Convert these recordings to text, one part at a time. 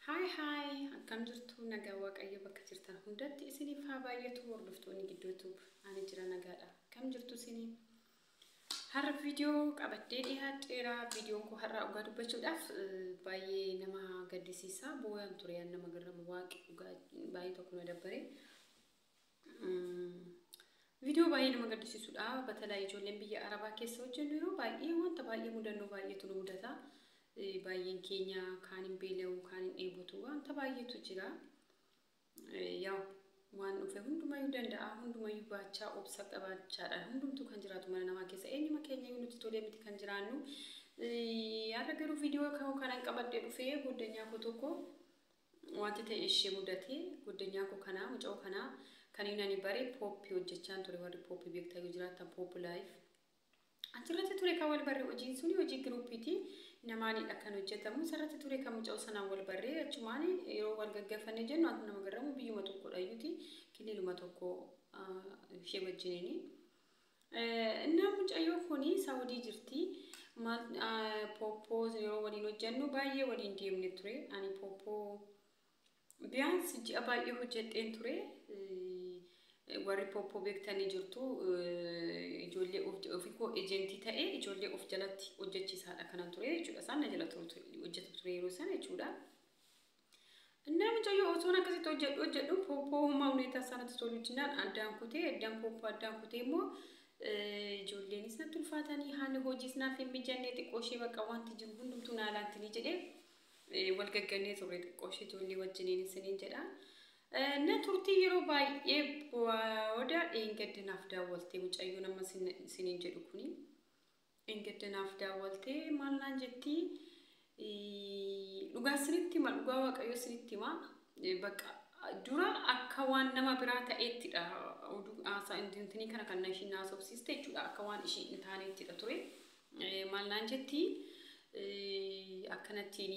Hi hi akkam jirtu nagaa waaqayyo bakka jirtan hundatti isiniif haa baay'atu hordoftoonni gidduu tube ani jira nagaadha akkam jirtu isini har'a viidiyoo qabadhee dhiyaadheera viidiyoon koo har'aa dhugaa dubbachuudhaaf baay'ee nama gaddisiisa booyaan ture yaan nama garramu waaqi dhugaa baay'ee tokko na dabbare Viidiyoo baay'ee nama gaddisiisudha. Batalaa ijoolleen biyya Arabaa keessa hojjennu yeroo baay'ee wanta baay'ee mudannoo baay'eetu nu mudata. Baay'een keenya kaan hin beela'u, kaan hin dheebotu, wanta baay'eetu jira. Yaa waan dhufe hundumayyuu danda'a, hundumayyuu baachaa, obsa qabaachaadhaan hundumtuu kan jiraatu mana namaa keessa eenyuma keenyayyuu nutti tolee miti kan jiraannu. Har'a garuu viidiyoo kanan qabadhee dhufee goddanyaa koo tokko Wanti ta'e ishee mudate goddanyaa koo kanaa muca'oo kanaa kan inni ani bare pooppi hojjechaan ture warri pooppi beektaa yoo jiraattan pooppi laayif achirratti ture kan wal barre hojiin suni hojii giruuppiiti namaanidha kan hojjetamu isarratti ture kan muca'oo sanaan wal barree achumaan yeroo wal gaggafanne jennu antu nama garramu biyyuma tokkodha iyyuti kiliiluma tokko ishee wajjiniini. Innaa mucayyoo kuni Saudi jirti. Maal Poppoo yeroo waliin hojjennu baay'ee waliin deemne ture. Ani Poppoo biyyaans ji'a baay'ee hojjedheen ture. Warri Poppoo beektanii jirtu ijoollee ofii koo ejentii ta'e ijoollee of jalatti hojjechiisaadha kanan ture jechuudha. Isaan na jala hojjetu ture yeroo sana jechuudha. Innaa mucayyoo osoon akkasitti hojjedhu hojjedhu pooppoo hummaa huneetaa isaa natti tolu jennaan addaan kutee addaan pooppoo addaan kutee immoo ijoolleenis natti ulfaatanii haalli hojiis naaf hin mijannee xiqqoo ishee bakka wanti jiru hundumtuu naa laantinii jedhee wal gaggannee turre xiqqoo ishee ijoollee wajjiniin isiniin jedha. Na turtii yeroo baay'ee booda dheengadda naaf daawwaltee mucayyoon amma isiniin jedhu kuni. Dheengadda naaf daawwaltee maal naan jetti dhugaa sinitti hima dhugaa waaqayyoo sinitti hima bakka dura akka waan nama biraa ta'eettidha oduu haasaa intinii kana kan ishiin haasofsiiste jechuudha akka waan ishii hin taaneettidha ture maal naan jetti akkanattiin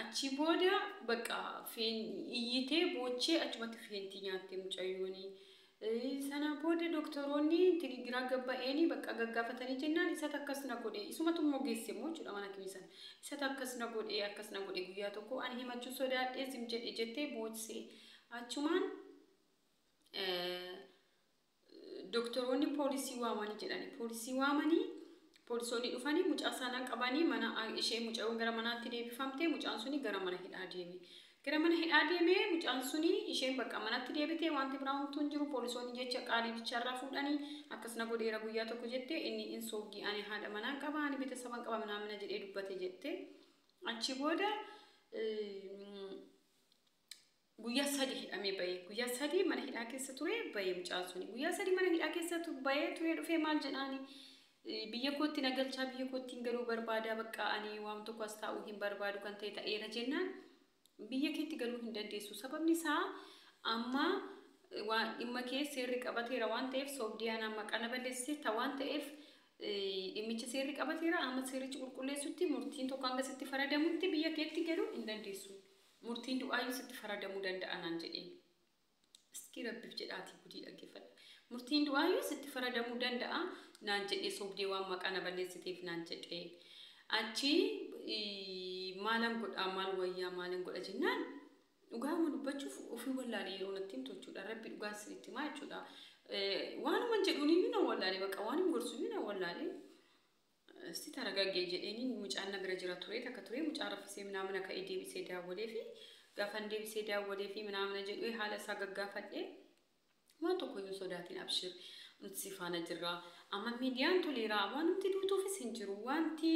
Achii booda bakka iyyitee boochee achumatti feentii nyaattee mucayyooni. Sana booda doktoroonni tini giraa gabba'eeni bakka gaggaafatanii jennaan isatu akkas na godhe isumatu immoo geesse immoo jechuudha mana kimii sana. Isatu akkas na godhe akkas na godhe guyyaa tokko ani himachuu sodaadhee zim jedhe jettee boochsee achumaan Doktoroonni poolisii waamani jedhani. Poolisii waamanii poolisoonni dhufanii mucaa sana qabanii mana ishee mucayoon gara manaatti deebifamte mucaan suni gara mana hidhaa deeme. Gara mana hidhaa deemee mucaan suni isheen bakka manatti deebitee wanti biraa homtuu hin jiru poolisoonni jecha qaalii bichaarraa fuudhanii akkas na godheera guyyaa tokko jette inni in soobdii ani haadha manaan qaba ani bitasaban qaba minaamina jedhee dubbate jette. Achi booda Guyyaa sadii hidhamee ba'e. Guyyaa sadii mana hidhaa keessa ture ba'e mucaan suni. Guyyaa sadii mana hidhaa keessa tu- ba'ee turee dhufee maal jedhaani? Eh, Biyya kootti na galchaa biyya koottiin galuu barbaada baqqaa ani waan tokko as taa'uu hin barbaadu kan ta'e ta'eera jennaan biyya keetti galuu hin dandeessu. Sababni isaa amma eh, waan dhimma kee seerri qabateera waan ta'eef soobdii anaan maqaa na balleessite ta waan ta'eef eh, dhimmicha seerri qabateera amma seerichi qulqulleessutti murtiin tokko hanga sitti faradamutti biyya keetti galuu hin dandeessu. Murtiin du'aayyuu sitti faradamuu danda'a naan jedheen. Iskii rabbiif jedhaatii gudii dhaggeeffadha. Murtiin du'aayyuu sitti faradamuu danda'a naan jedhee sobdee waan maqaa na balleessiteef naan jedhee. Achi maalan godhaa maal wayyaa maalin godha jennaan dhugaama dubbachuuf ofii wallaalee yeroo natti himtu jechuudha. Rabbi dhugaan sinitti himaa jechuudha. Waanuman jedhuun iyyuu na wallaalee baqa waanin gorsu iyyuu na wallaalee. Sti taragage jedheni mucaan na bira jira ture takka ture mucaan rafisee minaamina ka'e deebisee daawwaleefi gaafan deebisee daawwaleefi minaamina jedhu haala isaa gaggaafadhe waan tokko hin sodaatin abshir nuti si faana jirra amma miidiyaan toleera waanumti duutuufis hin jiru wanti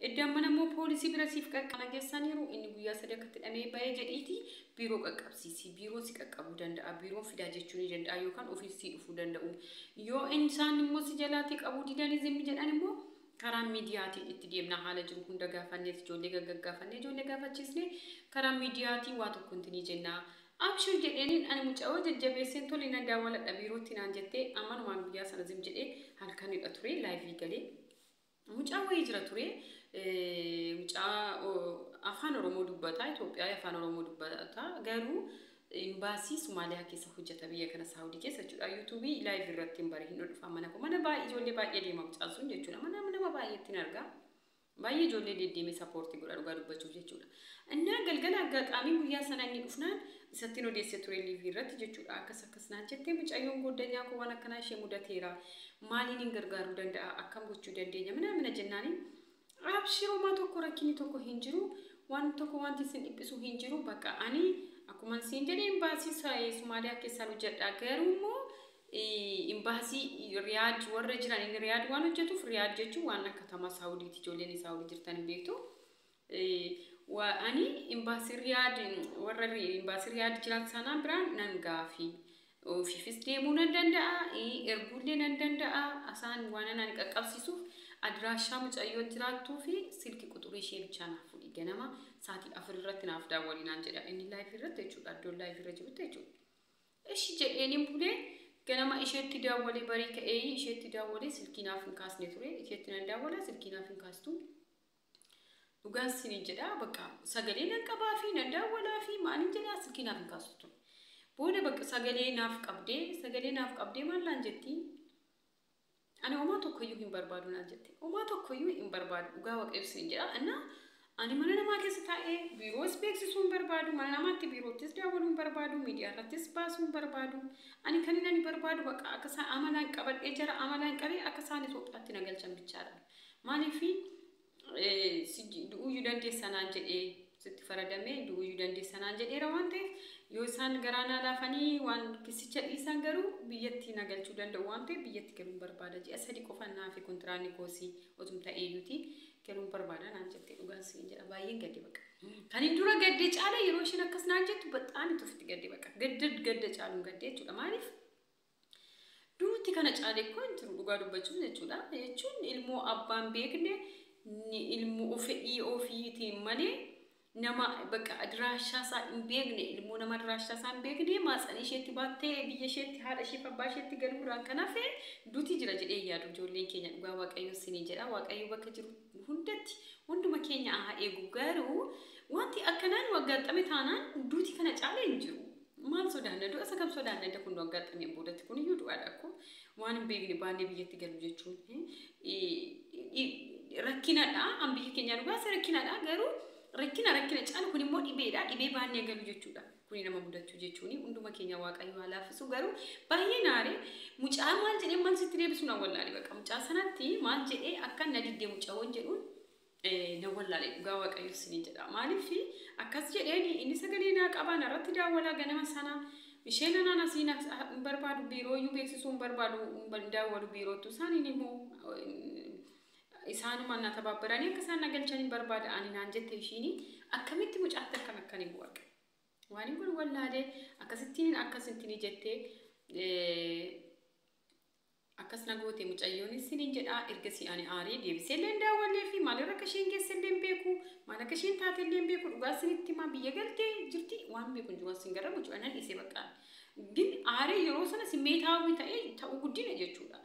edda ammana immoo poolisii bira siif qarqara gessaniiru inni guyyaa sadii akkatti dhamee ba'ee jedhiiti Biiroo qaqqabsiisi. Biiroon si qaqqabuu danda'a. Biiroon fidaa jechuu ni danda'a yookaan ofiis sii dhufuu danda'u. Yoo in isaan immoo si jalaatii qabuu didanii zimmi jedhan immoo karaa miidiyaatiin itti deemna haala jiru hunda gaafannees ijoollee gaggaggaafannee ijoollee gaafachiisnee karaa miidiyaatii waa tokko inti ni jenna. Abshir jedheeniin ani mucayoo jajjabeesseen tole nan daawwaladha biirootti naan jettee ammanumaan guyyaa sana zim jedhee halkanidha ture laayivii galee Mucaa wayii jira ture mucaa afaan oromoo dubbata Itoophiyaa afaan oromoo dubbata garuu imbaasii Somaaliyaa keessa hojjeta biyya kana Saawudii keessa jechuudha yuutuubii laayiv irratti hin bare hin dhufa mana koo mana baay'ee ijoollee baay'ee deema mucaan sun jechuudha mana nama baay'eetti hin argaa baay'ee ijoollee deddeemee sappoortii godha dhugaa dubbachuuf jechuudha Innaa galgala aggaxaamii guyyaa sanaa inni dhufnaan isattin odeesse ture liivii irratti jechuudha. Akkas akkas naan jettee mucayyoon gooddanyaa koo waan akkanaa ishee mudateera. Maaliinin gargaaruu danda'a? Akkam gochuu dandeenya? Minaamina jennaaniin abshir homaa tokko rakkinni tokko hin jiru. Waan tokko wanti isin dhiphisu hin jiru. Bakka ani akkuman siin jedhe imbaasii sa- eh, Somaaliyaa keessaan hojjedha. Garuu immoo eh, imbaasii Riyaad warra jiran inni Riyaad waan hojjetuuf Riyaad jechuun waan akka tamaa Saawudiiti. Ijoolleen Saawudii jirtan hin beektu. wa ani imbaasii riyaad warra ri- imbaasii riyaad jiran sanaa biraan nan gaafi ofiifis deemuu nan danda'a eh, erguullee nan danda'a asaan waan ani qaqqabsiisuuf adiraashaa mucayyoo jiraattuu fi silki quxurii ishee bichaa naaf fudhi ganama saatii afur irratti naaf daawwanii naan jedha inni laayifii irratti jechuudha iddoon laayifii irra jirutti jechuudha. Ishi jedheeniin bulee ganama isheetti daawwalee barii ka'ee isheetti daawwalee silkii naaf hin kaasne ture isheetti nan daawwala silkii naaf hin kaastu Dhugaan siiniin jedhaa bakka sagalee nan qabaa fi nan daawwalaa fi maaliin jedhaa silkii naaf hin kaasu ture. Booda bakka sagalee naaf qabdee sagalee naaf qabdee maal naan jettii? Ani homaa tokkoyyuu hin barbaadu naan jette. Homaa tokkoyyuu hin barbaadu dhugaa waaqayyo siiniin jedhaa. Innaa ani mana namaa keessa taa'ee biiroos beeksisuu hin barbaadu mana namaatti biiroottis daawwaluu hin barbaadu miidiyaa irrattis baasuu hin barbaadu. Ani kan inni ani barbaadu bakka akka isaan amalaan qabadhee jara amalaan qabee akka isaan Itoophiyaatti na galchan bichaadha. Maaliif du'uyyuu dandeessa naan jedhee sitti faradamee du'uyyuu dandeessa naan jedheera waan ta'eef yoo isaan garaa naa laafanii waan kissicha dhiisan garuu biyyatti na galchuu danda'u waan ta'eef biyyatti galuun barbaada ji'a sadi qofa naafi kontiraanni koosii otum ta'eeyyuuti galuun barbaada naan jettee dhugaan siin jedha baay'een gadde baqa. Kan hin dura gadde caala yeroo isheen akkas naan jettu baxaan itti ofitti gadde baqa gadda gadda caaluun gadde jechuudha maaliif Duuti kana caale koo hin turu dhugaa dubbachuuf jechuudha. Jechuun ilmoo abbaan beekne ilmoo fedhii ofiitiin malee nama bakka adiraashaa isaa hin beekne ilmoo nama adiraashaa isaa hin beekne maatsanii isheetti baattee biyya isheetti haadha isheef abbaa isheetti galuu irraan kan hafe duuti jira jedhee yaadu ijoolleen keenya dhugaa waaqayyoo sinii jedha waaqayyoo bakka jiru hundatti hunduma keenya haa eegu garuu wanti akkanaan waggaatxame taanaan duuti kana caalee hin jiru. Maal sodaanna? Du'a isa kam sodaanna? Edda kun nu aggaxxameen boodatti kun iyyuu du'aadha akkoo. Waan hin beekne baannee biyyatti galu jechuun rakkinadha. An biyya keenyaa nu baase rakkinadha garuu rakkina rakkina caalu kun immoo dhibeedha. Dhibee baannee galu jechuudha. Kuni nama mudachuu jechuuni hunduma keenya waaqayyo haa laaffisu garuu baay'ee naare mucaa maal jedhee maal sitti deebisuun awwallaale baqa mucaa sanatti maal jedhee akka na diddee mucaa waan jedhuun nan wallaale dhugaa waaqayyo isiniin jedha maaliif akkas jedheeni inni sagalee naa qabaa narratti daawwalaa ganama sana isheen anaan asii na hin barbaadu biirooyyuu beeksisuu hin barbaadu hin daawwalu biiroottu isaaniin immoo isaanuma na tabaabbaranii akka isaan na galchan hin barbaada ani naan jette ishiini akkamitti mucaatti akkan akkan hin waaqe waan hin kun wallaalee akkasittiin akkasittiin jettee Akkas na goote mucayyoonis siniin jedhaa ergasii ani aaree deebiseellee hin daawwanneefi maalirra akka isheen geessellee hin beeku maal akka isheen taatellee hin beeku dhugaa sinitti himaa biyya galtee jirti waan beeku hin jiru as hin garra mucaa nan dhiisee baqqaa ግን aaree yeroo sana simmeetaawwi ta'ee ta'uu guddina jechuudha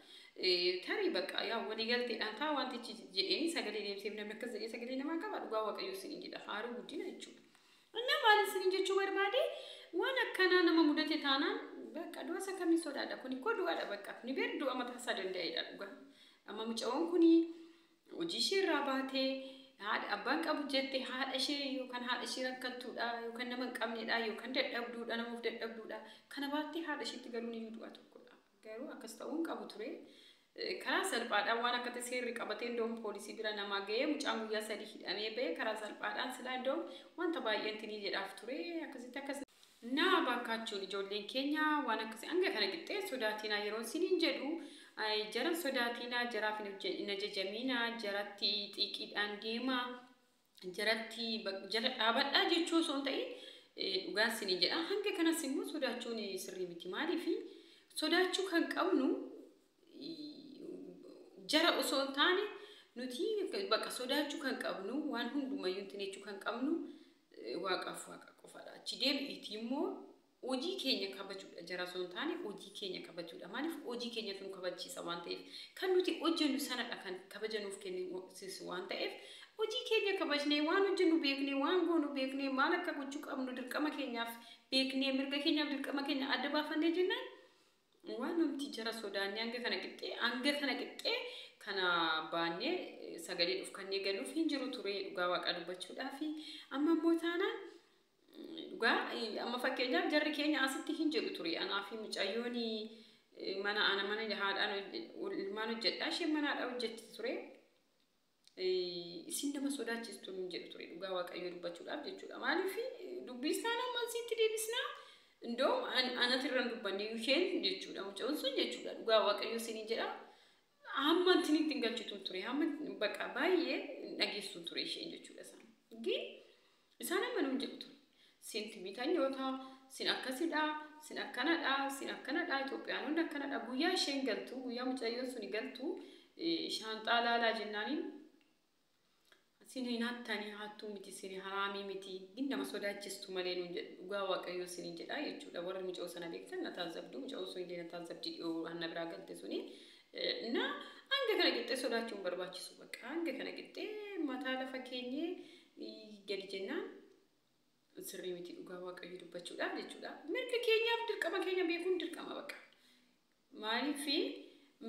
tarii baqqaa yaa walii galteedhaan taa wantichi jedheenii sagalee deebiseef namni akkas jedhee sagalee namaa qaba dhugaa waaqayyoo siniin jedha haaruu guddina jechuudha. Anna maalin sinin jechuu barbaade waan akkanaa nama mudate taanaan bakka du'a isa kamiin sodaadha kuni koo du'aadha bakka ni beer du'a mataa isaa danda'eedha dhuga amma mucawoon kuni hojii ishee irraa baatee haadha abbaan qabu jette haadha ishee yookaan haadha ishee rakkattuudha yookaan nama hin qabneedha yookaan dadhabduudha nama of dadhabduudha kana baattee haadha isheetti galuun iyyuu du'a tokkodha. Garuu akkas ta'uu hin qabu ture. Karaa salphaadhaan waan akka ta'e seerri qabatee indoom poolisii bira namaa ga'ee mucaan guyyaa sadii hidhamee ba'e karaa salphaadhaan silaa indoom wanta baay'een tinii jedhaaf ture akkasitti akkas naa baakaachuun ijoolleen keenya waan akkasii hanga kana qixxee sodaatiinaa yeroon siniin jedhu jaran sodaatiinaa jaraaf hin ajajamiinaa jaratti xiiqiidhaan deemaa jaratti jala dhaabadhaa jechuu osoo hin ta'in dhugaa isinii jedha. Hanga kanas immoo sodaachuun sirrii miti. Maaliif sodaachuu kan qabnu jara osoo hin taane nuti bakka sodaachuu kan qabnu waan hundumayyuu hin jechuu kan qabnu waaqaaf waaqa qofaadha. Achi deebi'iitii immoo Hojii keenya kabajuudha jara osoo hin taane hojii keenya kabajuudha. Maaliif hojii keenyatu nu kabachiisa waan ta'eef. Kan nuti hojjennu sanadha kan kabaja nuuf kennisiisu waan ta'eef hojii keenya kabajnee waan hojjennu beeknee waan goonu beeknee maal akka gochuu qabnu dirqama keenyaaf beeknee mirga keenyaaf dirqama keenya adda baafannee jennaan waan nuti jara sodaannee hanga kana qixxee hanga kana qixxee kana baannee sagalee dhufkannee galuuf hin jiru ture dhugaa waaqaa dubbachuudhaa fi amma immoo taanaan Dhugaa amma fakkeenyaaf jarri keenya asitti hin jedhu ture anaa fi mucayyoon mana ana mana haadhaan ilmaan hojjedhaa isheen mana haadhaa hojjetti ture. Isin nama sodaachistu hin jedhu ture dhugaa waaqayyoo dubbachuudhaaf jechuudha. Maaliif dubbii isaan amma asitti deebisnaa indoo anati irra hin dubbanne isheen jechuudha mucayyoon sun jechuudha dhugaa waaqayyoo isin jedha. Hamma ittiin ittiin galchitu ture hamma baqa baay'ee dhageessu ture isheen jechuudha isaan. Gin Isaan amma nuun jedhu ture. Sin Tibitanyoota, sin akkasidha, sin akkanadha, sin akkanadha, Itoophiyaanonni akkanadha. Guyyaa isheen galtu, guyyaa mucayyoon suni galtu, shaanxaa laalaa jennaaniin sin hin hattani hattuu miti sin haraamii miti gin nama sodaachistu malee nuun jedhu dhugaa waaqayyoo sin hin jedhaa jechuudha warri muca'oo sana beektan na taazzabdu muca'oo sun illee na taazzabdi dhiyoo hanna biraa galte suni na hanga kana qixxee sodaachuun barbaachisu bakka hanga kana qixxee mataa lafa keenyee gadi jennaan sirrii miti dhugaa waaqayyo dubbachuudhaaf jechuudha. Mirga keenyaaf dirqama keenya beekuun dirqama baqa. Maaliif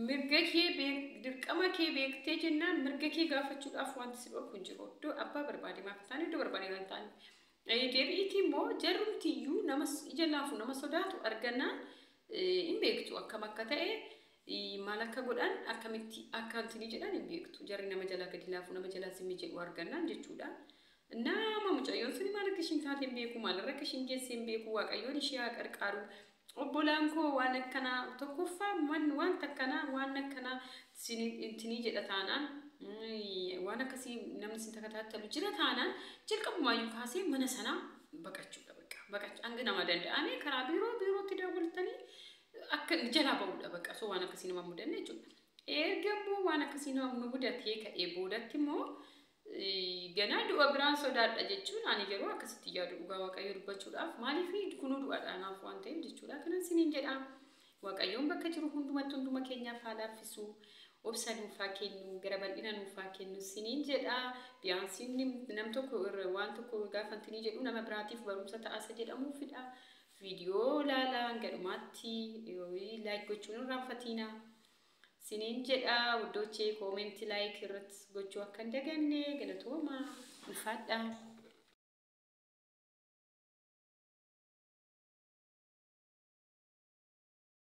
mirga kee beek- dirqama kee beektee jennaan mirga kee gaafachuudhaaf wanti si dhorku hin jiru. Iddoo abbaa barbaade maaf hin taane iddoo barbaade kan taane. Eh, Deebi'iiti immoo jarrumtiyyuu nama s- ija laafu nama sodaatu argannaan eh, hin beektu akkam akka ta'e Maal akka godhan akkamitti akka intini jedhan hin beektu. Jarri nama jalaa gadi laafu nama jalaa zimmi jedhu argannaan jechuudha. Nama mucayyoon suni maal akka ishiin taate hin beeku maalirra akka ishiin geesse hin beeku waaqayyoon ishee haa qarqaaru. Obbolaan koo waan akkanaa tokkoffaa man wanta akkanaa waan akkanaa sini intini jedha taanaan mm, waan akkasii namni sin takataattalu jira taanaan jalqabumaayyuu kaasee mana sanaa baqachuudha bakka baqachu hanga nama danda'ame karaa biiroo biirootti daawwaltanii akka jalaa ba'uudha bakka osoo waan akkasii nama mudanne jechuudha. Erga immoo waan akkasii nama nu mudatee ka'ee boodatti immoo eh, ganaa du'a biraan sodaadha jechuun ani yeroo akkasitti yaadu dhugaa waaqayyo dubbachuudhaaf maaliif kunuu du'aadha anaaf waan ta'eef jechuudha kanan siniin jedha waaqayyoon bakka jiru hundumatti hunduma keenyaaf haa laaffisu obsa nuuf haa kennu gara bal'ina nuuf haa kennu siniin jedha biyaansiin nam tokko irra waan tokko gaafantinii jedhu nama biraatiif barumsa ta'asa jedhamuufidha Video laalaa hanga dhumaatti like gochuun hin irraanfatiina. Siniin jedha wuddoochee koomenti like irratti gochuu akka hin daganne galatooma ulfaadha.